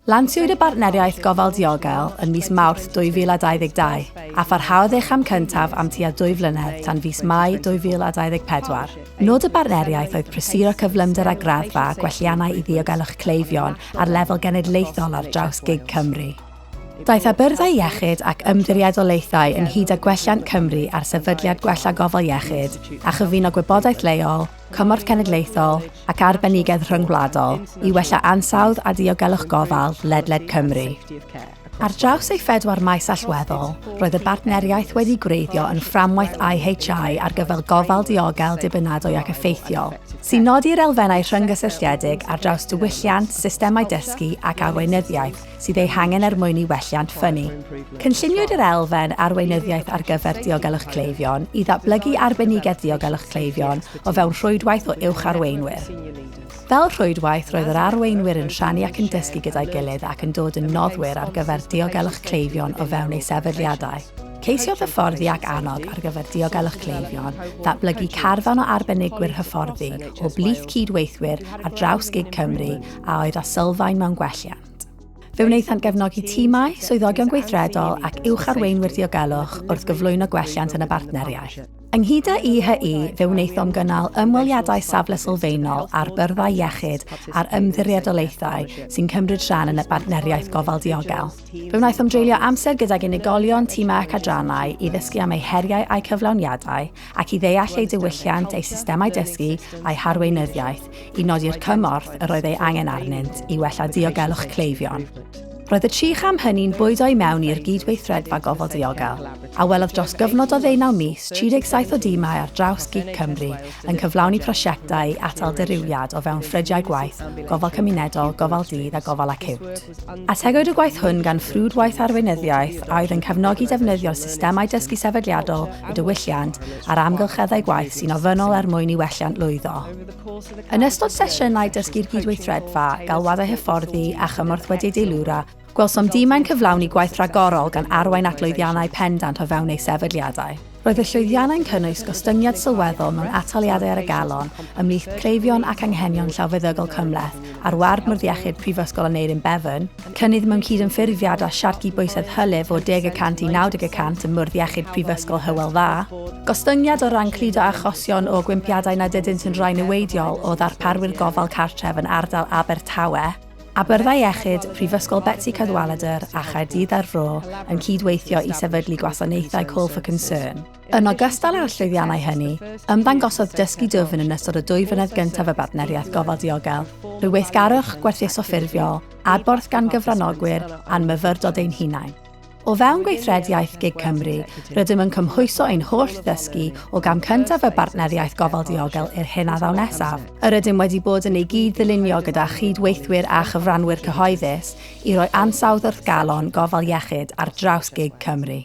Lansiwyd y Bartneriaeth Gofal Diogel yn mis Mawrth 2022, a pharhaodd ei cham cyntaf am tua dwy flynedd tan fis Mai 2024. Nod y bartneriaeth oedd prysuro cyflymder a graddfa gwelliannau i ddiogelwch cleifion ar lefel genedlaethol ar draws gig Cymru. Daeth â byrddau iechyd ac ymddiriedolaethau ynghyd â gwelliant Cymru ar sefydliad gwella gofal iechyd a chyfuno gwybodaeth leol, cymorth cenedlaethol ac arbenigedd rhyngwladol i wella ansawdd a diogelwch gofal ledled Cymru. Ar draws ei phedwar maes allweddol, roedd y bartneriaeth wedi gwreiddio yn fframwaith IHI ar gyfer gofal diogel dibynadwy ac effeithiol, sy'n nodi'r elfennau rhynggysylltiedig ar draws diwylliant, systemau dysgu ac arweinyddiaeth, sydd eu hangen er mwyn i welliant ffynnu. Cynlluniwyd yr elfen arweinyddiaeth ar gyfer diogelwch cleifion i ddatblygu arbenigedd diogelwch cleifion o fewn rhwydwaith o uwch arweinwyr. Fel rhwydwaith, roedd yr arweinwyr yn rhannu ac yn dysgu gyda'i gilydd ac yn dod yn noddwyr ar gyfer diogelwch cleifion o fewn eu sefydliadau. Ceisiodd hyfforddi ac annog ar gyfer diogelwch cleifion ddatblygu carfan o arbenigwyr hyfforddi o blith cyd-weithwyr ar draws gig Cymru a oedd â sylfaen mewn gwelliant. Fe wnaethant gefnogi timau, swyddogion gweithredol ac uwch-arweinwyr diogelwch wrth gyflwyno gwelliant yn y bartneriaeth. Ynghyd â IHE, fe wnaethom gynnal ymweliadau safle sylfaenol ar byrddau iechyd a'r ymddiriedolaethau sy'n cymryd rhan yn y Bartneriaeth Gofal Diogel. Fe wnaethom dreulio amser gydag unigolion, timau ac adrannau i ddysgu am eu heriau a'u cyflawniadau ac i ddeall eu diwylliant, eu systemau dysgu a'u harweinyddiaeth, i nodi'r cymorth yr oedd ei angen arnynt i wella diogelwch cleifion. Roedd y tri cham hynny'n bwydo i mewn i'r gyd-weithredfa gofal diogel, a welodd dros gyfnod o ddeunaw mis 37 o dimau ar draws gig Cymru yn cyflawni prosiectau i atal dirywiad o fewn ffrydiau gwaith, gofal cymunedol, gofal dydd a gofal acíwt. Ategwyd y gwaith hwn gan ffrwdwaith arweinyddiaeth a oedd yn cefnogi defnyddio systemau dysgu sefydliadol y diwylliant a'r amgylcheddau gwaith sy'n ofynnol er mwyn i welliant lwyddo. Yn ystod sesiynau dysgu'r gydweithredfa, galwadau hyfforddi a chymorth wedi eu deilwra, gwelsom dimau'n cyflawni gwaith rhagorol gan arwain at lwyddiannau pendant o fewn eu sefydliadau. Roedd y llwyddiannau'n cynnwys gostyngiad sylweddol mewn ataliadau ar y galon ymhlith cleifion ac anghenion llawfeddygol cymhleth ar ward Mwrdd Iechyd Prifysgol Aneurin Bevan, cynnydd mewn cydymffurfiad â siartgi bwysedd hylif o 10 y cant i 90 y cant ym Mwrdd Iechyd Prifysgol Hywel Dda, gostyngiad o ran cludo achosion o gwympiadau nad ydynt yn rai niweidiol o ddarparwyr gofal cartref yn ardal Abertawe, A Byrddau Iechyd, Prifysgol Betsi Cadwaladr a Chaerdydd a'r Fro yn cyd-weithio i sefydlu gwasanaethau Call for Concern. Yn ogystal â'r llwyddiannau hynny, ymddangosodd dysgu dwfn yn ystod y dwy flynedd gyntaf y Bartneriaeth Gofal Diogel, rhyw weithgarwch gwerthuso ffurfiol, adborth gan gyfranogwyr, a'n myfyrdod ein hunain. O fewn gweithred iaith gig Cymru, rydym yn cymhwyso ein holl ddysgu o gam cyntaf y Bartneriaeth Gofal Diogel i'r hyn a ddaw nesaf. Yr ydym wedi bod yn ei gyd-ddylunio gyda chyd-weithwyr a chyfranwyr cyhoeddus i roi ansawdd wrth galon gofal iechyd ar draws gig Cymru.